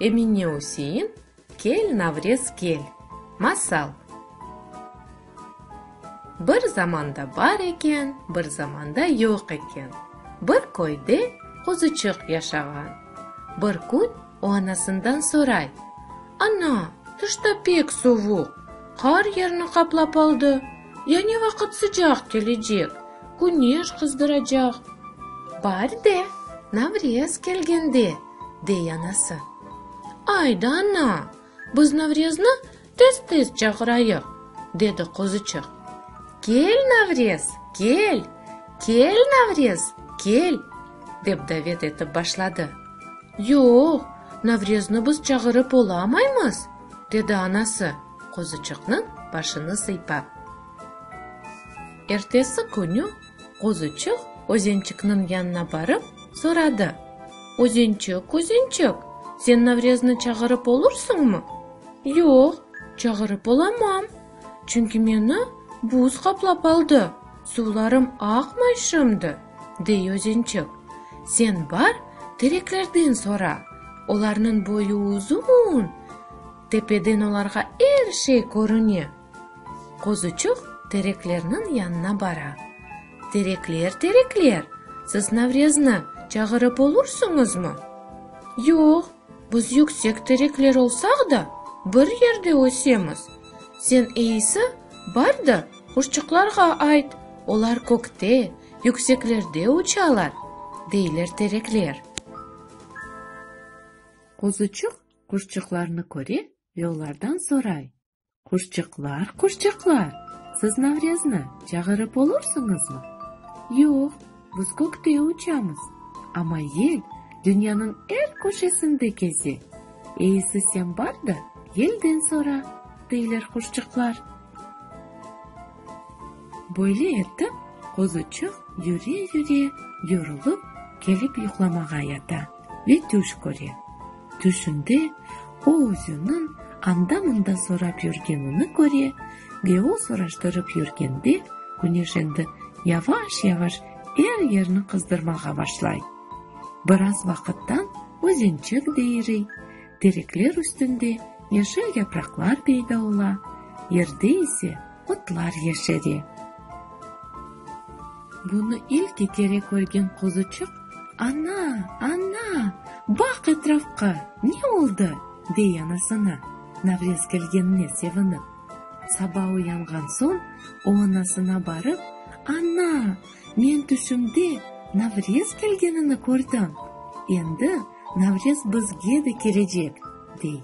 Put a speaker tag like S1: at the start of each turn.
S1: Emine Üsein Kel, Navrez, kel! Masal Bir zamanda bar eken, bir zamanda yoq eken, Bir köyde quzuçıq yaşağan. Bir kün O anasından soray, Ana, tışta pek sovuq, qar yerni qaplap aldı, ya ne vaqıt sıcaq kelecek, küneş qızdıracaq? Bar de, Navrez kelgende, dey anası. Ay da, ana, Biz Navrezni tez-tez çağırayıq, dedi Qozıçıq. Kel, Navrez, kel! Kel, Navrez, kel! dep davet etip başladı. Yoq, Navrezni biz çağırıp olamaymız, dedi anası, Qozıçıqnıñ başını sıypap. Ertesi künü. Qozuçıq Özençikniñ yanına barıp, soradı, Özençik, Özençik, sen Navreznı çağırıp olursıñmı? Yoq, çağırıp olamam, çünki meni buz qaplap aldı, suvlarım aqmay şimdi, dey Özençik. Sen bar, tereklerden sora, olarnıñ boyu uzun, tepeden olarğa er şey körüne. Qozuçuq tereklerniñ yanına bara. Terekler, terekler, siz Navrezni çağırıp olursıñızmı? Yoq, biz yüksek terekler olsaq da, bir yerde ösemiz. Sen eyisi, bar da quşçuqlarğa ayt, olar kökte, yükseklerde uçalar, deyler terekler. Qozuçuq quşçuqlarnı köre ve olardan soray. Quşçıqlar, quşçıqlar, siz Navrezni çağırıp olursıñızmı? Yoq, biz kökte uçamız, amma yel dünyanıñ er köşesinde keze. Eisi sen bar da yelden sora, deyler quşçıqlar. Böyle etip, quzuçıq yüre-yüre, yorulıp, kelip yuqlamağa yata. Ve tüş köre. Tüşünde o özüniñ anda-mında sorap yürgenini köre ve o soraştırıp yürgende Küneş endi yavaş-yavaş er yerni qızdırmağa başlay. Biraz vaqıttan özençek de iriy, terekler üstünde yeşil yapraqlar peyda ola, yerde ise Otlar yeşeri. Bunı ilki kere körgen quzuçıq, Ana, ana, baq etrafqa, ne oldı? dey anasına, Navrez kelgenine sevinip. Saba uyanğan soñ o anasına barıp, Ana, men tüşümde Navrez kelgenini kördim, endi Navrez bizge de kelecek, dey.